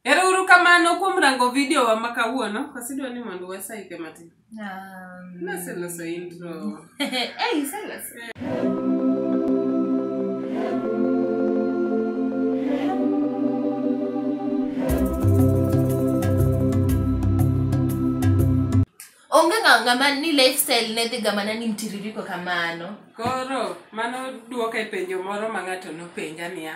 Ero uru kamano kuom rango video wa ma kawuono. Wasidwa ni mondo wasaike matin. Um, Naseloso intro. hey, iseloso. onge ng'a- ng'ama ni lifestyle ne dhi gamana ni mtiririko kamano Koro mano duoko e penjo moro ma ng'ato nopenja niya.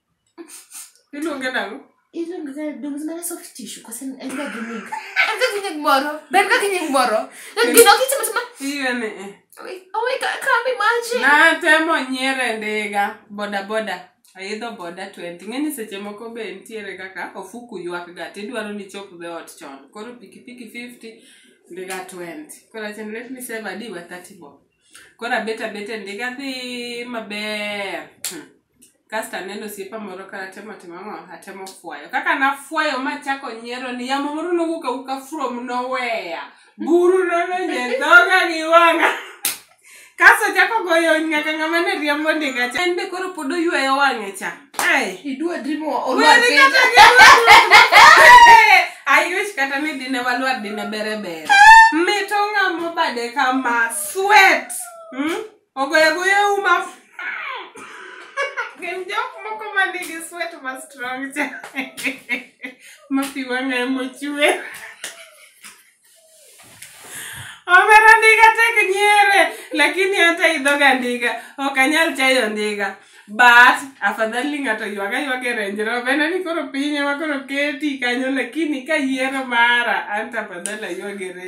Iluonge nang'o? Iluonge ga dongs mana soft tissue kose en ga gi nying. En ga gi nying moro. Ben ga gi nying moro. To gino kitimo timo. Iwe ni eh. Oh my god, I can't imagine. Natemo nyiero e ndiga boda boda. Aidho boda 20. Ng'e ni seche moko be nitiere kaka ofuku ywak ga tidwaro ni chop the ot chon. Koro pikipiki 50 ndiga 20. Koro achen let me save adi wa 30 bob. Koro abet abet e ndiga dhi maber. Hmm. kasto aneno osiepa moro ka atemo timo ang'o atemo fwayo kaka nafwayo machako nyiero ni yamo moro nowuok awuka from noweya buru nodonjo e dhoga gi wang'a kasto chako goyo nyaka ng'ama ne riembo ndiga cha en be koro pod oyweyo wang'e cha Ai. idwa drimo Weri kata gi I wish kata ni dine walwar dine bere bere. Mito ng'amo bade kama sweat. Hmm? Ogoyo agoya uma. Gin jok moko ma nigi sweat ma strong cha. Ma pi wang'a ema ochwe. Omera ndiga tek nyiere, lakini hata idhoga ndiga, ok anyal chayo ndiga. But afadhali ng'ato ywag aywag e Range Rover, en ni koro piny ema koro keti kanyo, lakini ka yiero mara, an to afadhali aywag e Range